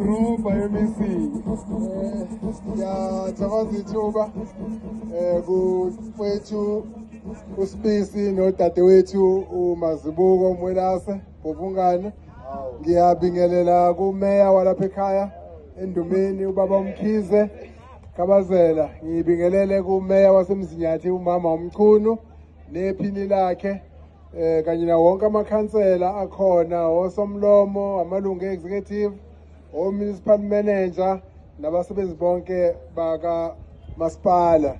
Roba MEC ngiyathokoza ithuba um kukwethu uSibisi nodadewethu uMazibuko Mwelase ngobungane ngiyabingelela kumeya walapha ekhaya endumeni ubaba umkhize kabazela ngibingelele kumeya wasemzinyathi umama umchunu nephini lakhe eh kanye na wonke amakhansela akhona osomlomo amalungu executive o municipal manager nabasebenzi bonke baka masipala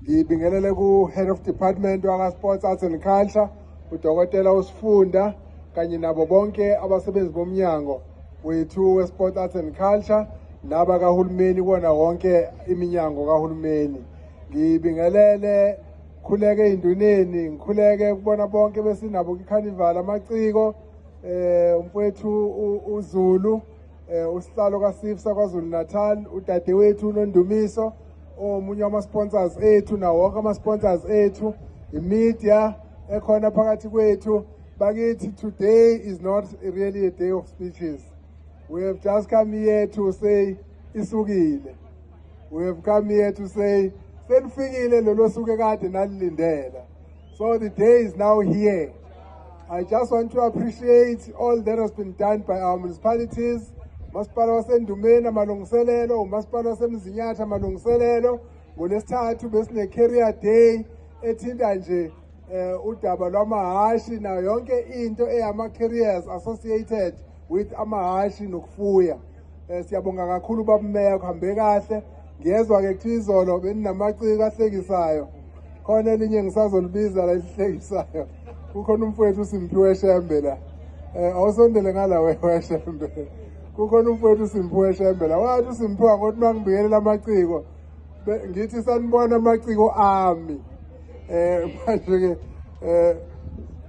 ngibingelele ku head of department waka sports arts and culture udokotela usifunda kanye nabo bonke abasebenzi bomnyango wethu we sports arts and culture naba kahulumeni kona wonke iminyango kahulumeni ngibingelele ngikhuleke ey'nduneni ngikhuleke kubona bonke besinabo kwikhanivala amaciko um umfowethu uzulu um usihlalo kasif sakwazulu natal udadewethu unondumiso omunye wama-sponsors ethu nawo wonke ama-sponsors ethu imedia ekhona phakathi kwethu bakithi today is not really a day of speeches we have just come here to say isukile we have come here to say selifikile lelo suke kade nalilindela so the day is now here i just want to appreciate all that has been done by our municipalities umasipala wasendumeni amalungiselelo umasipala wasemzinyatha amalungiselelo ngolesithathu besine-carrier day ethinta nje eh udaba lwamahashi nayo yonke into eyama carriers associated with amahashi nokufuya eh siyabonga kakhulu babumeya kuhambe kahle ngiyezwa ke kuthiwa izolo beninamaciko ahlekisayo khona elinye ngisazolibiza la elihlekisayo kukhona umfowethu uSimphiwe Shembe la eh awusondele ngala wewe Shembe kukhona umfowethu uSimphiwe Shembe la wathi uSimphiwe ngothi mangibikelela amaciko ngithi sanibona amaciko ami eh manje ke eh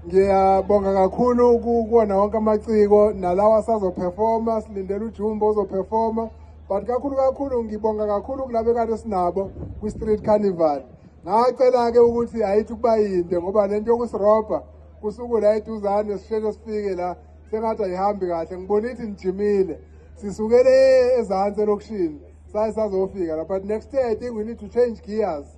ngiyabonga kakhulu kuwona wonke amaciko nalawa asazoperforma silindele ujumbo ozoperforma but kakhulu kakhulu ngibonga kakhulu kulabe kade sinabo kwi-street carnival ngacela-ke ukuthi ayithi ukuba yinde ngoba le nto yokusirobha kusuku la eduzane sisheshe sifike la sengathi ayihambi kahle ngibona ithi nijimile sisukele ezansi elokishini saye sazofika la but next year i think we need to change gears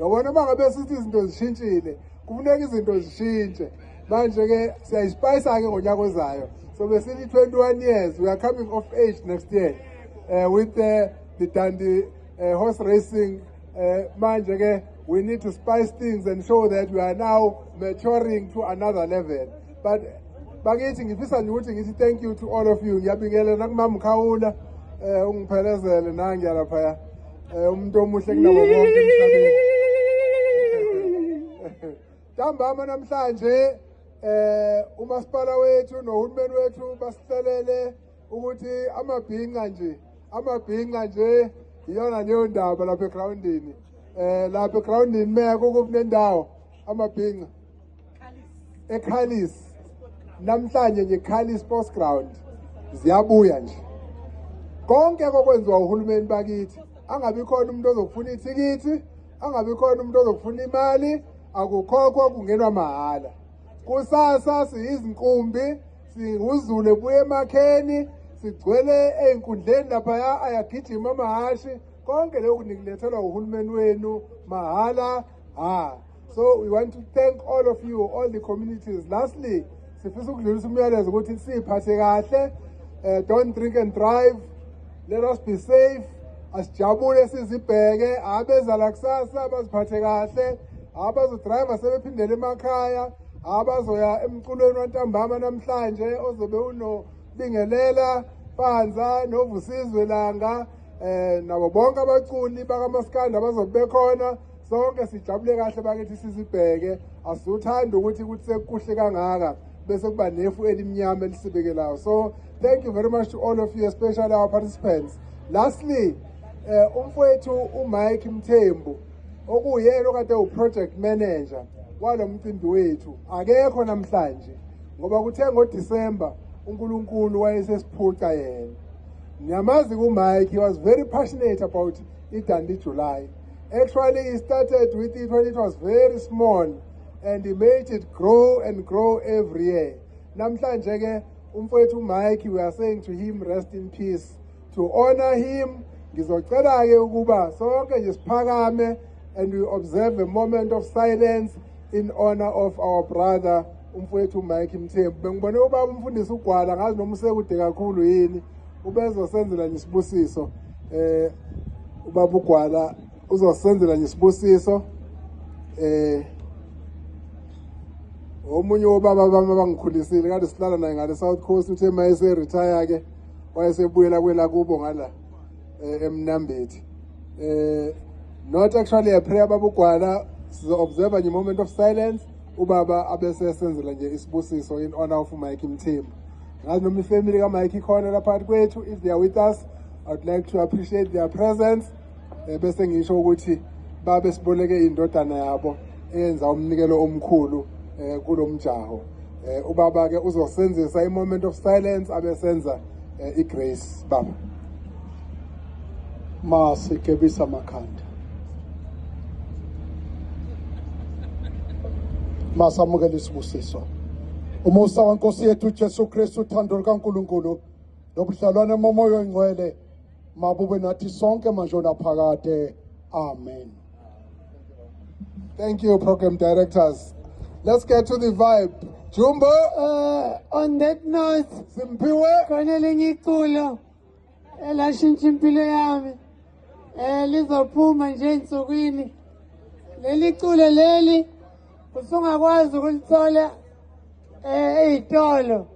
yabona uma ngabe sithi izinto zishintshile kufuneka izinto zishintshe manje-ke siyayisipayisa-ke ngonyaka ozayo so besithi 21 years we are coming of age next year uh, with the, the dandi uh, horse racing uh, manje-ke we need to spice things and show that we are now maturing to another level but bakithi ngifisa nje ukuthi ngithi thank you to all of you ngiyabingelela nakumamkhawula um eh, ungiphelezele nangiyalaphaya um eh, umuntu omuhle kunabo bonke emhlabeni ntambama namhlanje um umasipala wethu nohulumeni wethu basihlelele ukuthi amabhinqa nje amabhinqa nje iyona leyo ndaba lapha egrawundini um lapha egrawundini meko kukunendawo amabhinqa eKhalis namhlanje nje Khalis Sports Ground ziyabuya nje konke kokwenziwa uhulumeni bakithi angabi khona umuntu ozokufuna ithikithi angabi khona umuntu ozokufuna imali akukhokhwa kungenwa mahhala kusasa siyizinkumbi singuzule buye emakheni sigcwele ey'nkundleni laphaya ayagijima amahashi konke lokhu nikulethelwa uhulumeni wenu mahhala Ah, so we want to thank all of you, all the communities. Lastly, sifisa ukudlulisa umyalezo ukuthi siphathe kahle, uh, don't drink and drive, let us be safe, asijabule sizibheke, abeza la kusasa baziphathe kahle, abazodriver sebephindele emakhaya, abazoya emculweni wantambama namhlanje ozobe unobingelela Panza novusizwe langa eh nabo bonke abaculi bakamaskanda bazobe bekhona sonke sijabule kahle bakithi sizibheke asiwuthandi ukuthi ukuthi sekuhle kangaka bese kuba nefu elimnyama elisibekelayo so thank you very much to all of you especially our participants lastly eh umfowethu uMike Mthembu okuyena okade uproject manager walo mcimbi wethu akekho namhlanje ngoba kuthe ngoDecember uNkulunkulu wayesesiphuca yena niyamazi kuMike he was very passionate about iDandi July Actually, it started with it when it was very small and he made it grow and grow every year. Namhlanje ke umfowethu Mike we are saying to him rest in peace. To honor him ngizocela ke ukuba sonke nje siphakame and we observe a moment of silence in honor of our brother umfowethu Mike Mthembu. Bengibone ubaba umfundisi ugwala ngazi noma usekude kakhulu yini. ubezosenzela nje isibusiso eh ubaba ugwala uzosenzela nje isibusiso eh omunye wobaba bami abangikhulisile kade silala naye ngale South Coast uthe mayese retire ke wayesebuyela kwela kubo ngala eh, emnambethi eh not actually a prayer babugwala sizo observe nje moment of silence ubaba abese esenzela nje isibusiso in honor of Mike Mthembu ngazi noma ifamily kamike ikhona la phakathi kwethu if they are with us i would like to appreciate their presence um bese ngisho ukuthi babe siboleke indodana yabo eyenza umnikelo omkhulu um kulo mjaho um ubaba-ke uzosenzisa i-moment of silence abesenza um i-grace baba masikebisa amakhanda masamukele isibusiso umusa wenkosi yethu ujesu kristu uthando lukankulunkulu nobudlalwane momoya oyingcwele mabube nathi sonke manje onaphakade amen thank you program directors let's get to the vibe jumbo uh, on that note simphiwe khona lenye iculo elashintsha impilo yami eh lizophuma nje ensukwini leli culo leli usungakwazi ukulithola eh ezitolo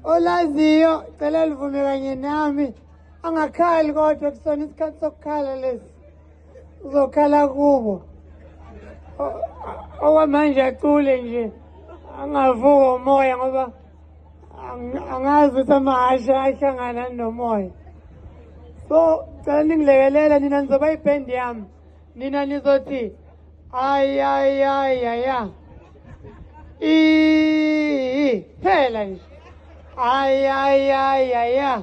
olaziyo cela livume kanye nami angakhali kodwa kusona isikhathi sokukhala lesi uzokhala kubo okwamanje acule nje angavuka umoya ngoba angazi ukuthi amahashe ahlangana nomoya so cela ningilekelela nina nizoba ibhendi yami nina nizothi ayayayaya i phela nje ayayayaya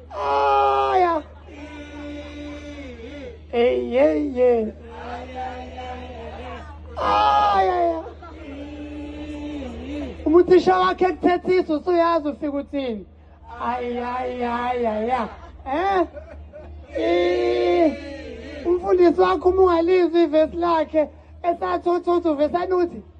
Aya. Hey, hey, hey. Aya. Umuthisha wakhe kuthethisa usuyazi ufika uthini. Aya, aya, aya. Eh? Eh. Umfundisi wakho uma ungalizwi ivesi lakhe esathi othi uthi uvesani uthi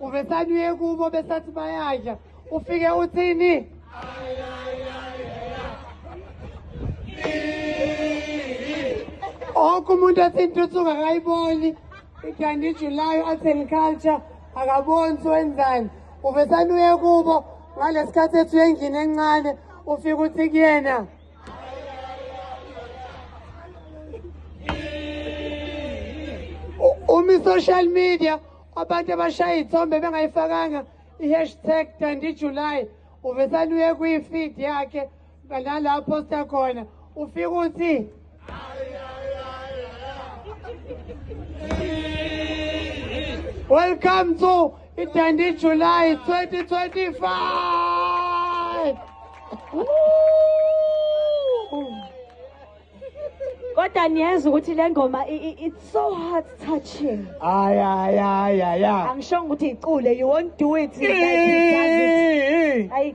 ubesanuye kubo besathi bayadla ufike uthini onke umuntu athi intuthuko akayiboni ithanda ijulayo arts and culture akaboni siwenzani uvesanuye kubo ngalesikhathi ethu yengini encane ufike uthi kuyena umi social media abantu abashaya iy'thombe bengayifakanga i-hashtag tandi july uvesane uye kwi-feed yakhe nala aphosta khona ufike uthi welcome to itandi july 2025 kodwa niyezwa ukuthi le ngoma it's so heart touching ay ay ay ay angishongo ukuthi icule you won't do it like he does it